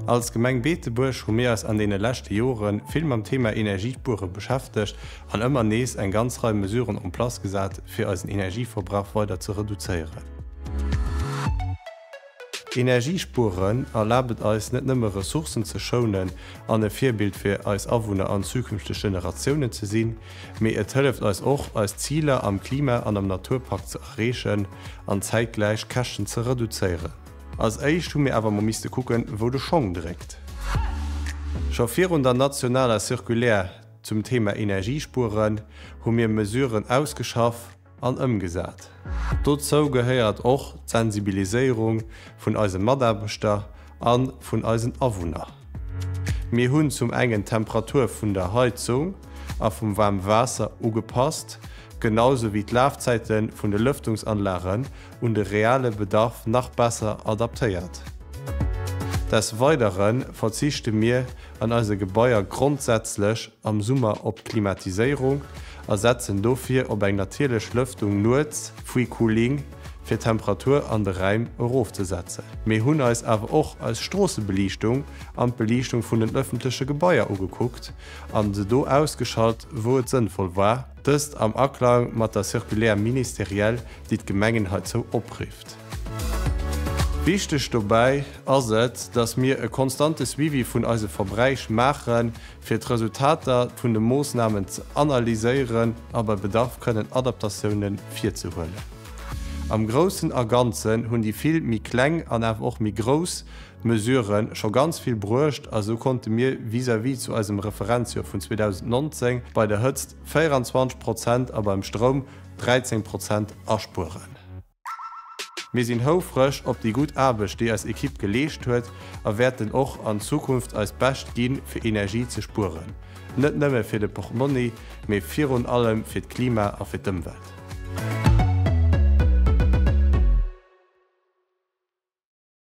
Als Gemeng Beetebuerg hu mir eis an deene leschte Jore vill mam Thema Energiespuere beschäftegt an ëmmer nees eng ganz Rei Mesuren en place gesat, fir eisen Energieverbrauch weider ze reduzéieren. Energiespueren erlaabt et eis net nëmme Ressourcen ze schounen an e Virbild fir eis Awunner an zukünfteg Generatiounen ze sinn, Mee et hëlleft eis och, eis Ziler am Klima an am Naturpakt ze erreechen an zäitgläich d'Käschten ze reduzéieren. Als éischt hu mir awer mol misste kucken, wou de Schong dréckt. Scho virun der nationaler Circulaire zum Thema Energiespueren hu mir Mesuren ausgeschaff, an ëmgesat. Dozou gehéiert och d'Sensibiliséierung vun eise Mataarbechter a vun eisen Awunner. Mir hunn zum engen d'Temperatur vun der Heizung a vum waarme Waasser ugepasst, genau sou wéi d'Lafzäite vun de Lëftungsanlagen un de reale Bedarf nach besser adaptéiert. Des Weidere verzichte mir an eise Gebaier grondsätzlech am Summer op d'Klimatiséierung a setzen dofir op eng natierlech Lëftung nuets, free cooling, fir d'Temperatur an de Räim erofzesetzen. Mir hunn eis awer och eis Stroossebeliichtung an d'Beliichtung vun den ëffentleche Gebaier ugekuckt an se do ausgeschalt, wou et sënnvoll war, dëst am Aklang mat der Circulaire ministérielle, déi d'Gemengen heizou oprifft. Wichteg dobäi ass et, dass mir e konstante Suivi vun eise Verbräich maachen, fir d'Resultater vun de Moossnamen ze analyséieren a bei Bedarf kënnen Adaptatioune virzehuelen. Am Groussen a Ganzen hunn déi vill méi kleng an awer och méi grouss Mesurë scho ganz vill bruecht a sou konnte mir vis-à-vis zu eisem Referenzjoer vun 2019 bei der Hëtzt 24 Prozent a beim Stroum 13 Prozent aspueren. Mir sinn houfreg op déi gutt Aarbecht, déi eis Ekipp geleescht huet a wäerten och an Zukunft eist Bescht ginn, fir Energie ze spueren. Net nëmme fir de Portmonni, mee virun allem fir d'Klima a fir d'Ëmwelt.